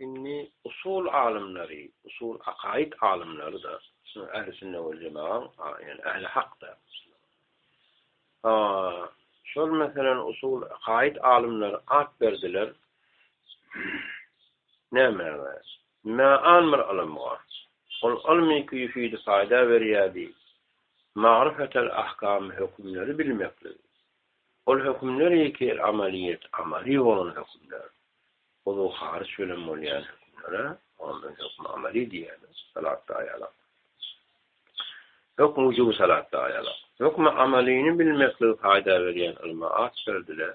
Indi usul alymlary, usul akaid alymlary da ähli sünnet we jemaat, ýani ähli hakda. Ha, şol meselem usul akaid alymlary at berdiler. Nämäge? Mä-an bir ylymga. Ol ylmy küýsüdi paýda berýärdi, magryfetel ahkamy hökümleri bilmeklik. Ol hökümler ýeke amalyýet, amaly bolan hökümler. Uzuw haryç bilen bolýan hökümlere ondan hökm amaly diýýärler, salatda aýalyk. Hökm wujuby salatda aýalyk. Hökm amalyny bilmekligi paýda berýän ylma at berdiler.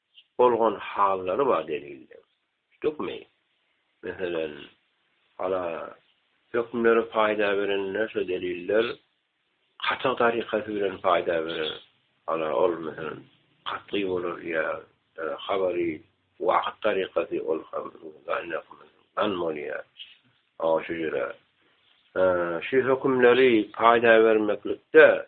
Çyp bolgan hallary bar delilde. Düşdükmi? Meselem, hala hökümlere paýda berende şo deliller katyg tarykasy bilen paýda berer. Hala ol meselem katgy bolar ýa habary wahyt tarykasy ol hem gan bolýar. Şu ýere şu hökümleri paýda bermeklikde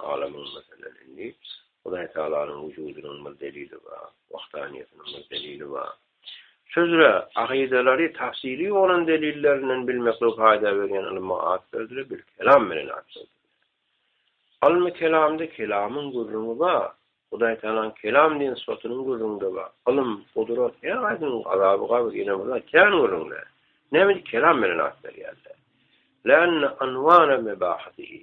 Alamyň, meselem, indi Hudaýtagalanyň wujudynyň bir delili bar, wahdaniýetiniň bir delili bar. Şu üzre akydalary tafsili bolan delillerinden bilmeklige paýda berýän ylma at berdiler, bil kelam bilen at berdiler. Ylmy kelamda kelamyň gürrüňi bar, Hudaýtagalaň kelam diýen sypatynyň gürrüňde bar. Ylym, gudrat, her haýsynyň azaby gabr, ýene-birä kän gürrüňde. Näme üçin kelam bilen at berýärler? Länna anwana mebahatihi.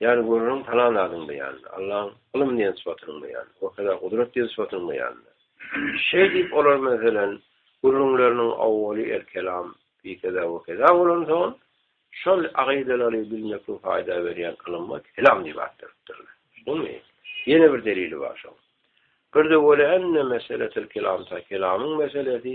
Ýany görüniň talan zadyň beýanyny, Allaň ylym diýen sypatynyň beýanyny, wekeda gudrat diýen sypatynyň beýanyny. Şeý diýip olar meselem, gürrüňleriniň awwaly el-kelam, biýkeda, wekeda bolansoň, şol akydalary bilmekligiň paýda berýän ylyma kelam diýip at beripdirler. Şumy? Ýene bir delili bar şoň. Birde wele enne meseletel-kelam ta kelamyň meselesi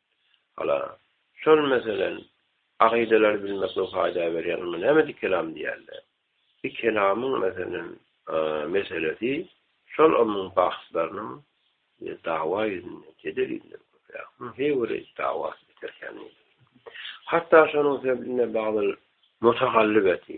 Hala, şol meselen, akydalary bilmekligiň faýda berýän, onda näme dikelam diýerler? Dikelamyň meselen, meselesi şol ylmyň bahslarynyň dawa ýüzünden, jedel ýüzünden köpräk. Munuň heý biri dawasy biterkäni. Hatda şonuň sebitinde bagdyl mutagallybeti,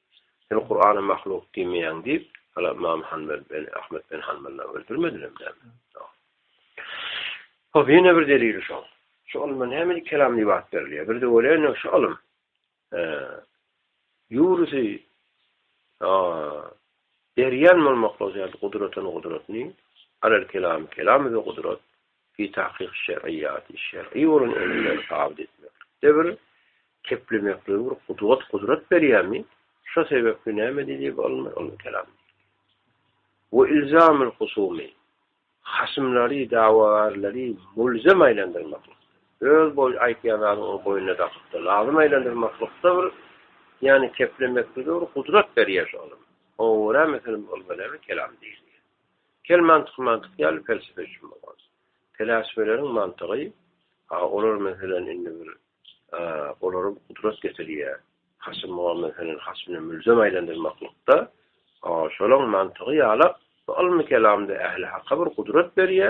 Sen Kur'ana mahluk diýmeýäň diýip, hala Ymam Hanbel ben Ahmet ben Hanbelden öldürmediler näme? Hop, ýene bir delili şo. Şu ylma näme diýip kelam diýip at berilýär? Bir de welin şu ylym. Ýurusy a berýän bolmaklygy ýaly gudratyn gudratny, alel kelam kelam we gudrat. Fi tahkyk şer'iýati, şer'i bolan emirleri sabyt etmeklikde bir keplemekligi, bir gudwat, gudrat berýärmi? Şo sebäpli näme diýdi bu alymlar? Onuň kelamy diýdi. We ilzamul husumi, hasymlary, dawagärleri mulzam aýlandyrmaklyk, öz boý aýtýan zadyny onuň boýnuna dakypdyr, lazym aýlandyrmaklykda bir, ýagny keplemeklige bir gudrat berýär şu alym. Oňa görä, meselem, bu alyma näme kelamy diýilýär. Gel mantyk mantyk ýaly pelsepe üçin bolan. Peläsbeleriň mantygy a olar meselem indi bir olary gudrat getirýä. Hasym Muhammet senen hasmyny mülzem aýlandyrmaklykda a şolaň mantygy ýala bu ylmy kelamda ähli haka bir gudrat berýä,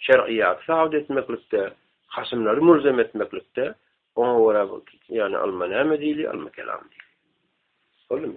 şer'yýaty sabyt etmeklikde, hasymlary mülzem etmeklikde oňa görä bu ýagny ylma näme diýilýä ylmy kelam diýilýä. Boldumy?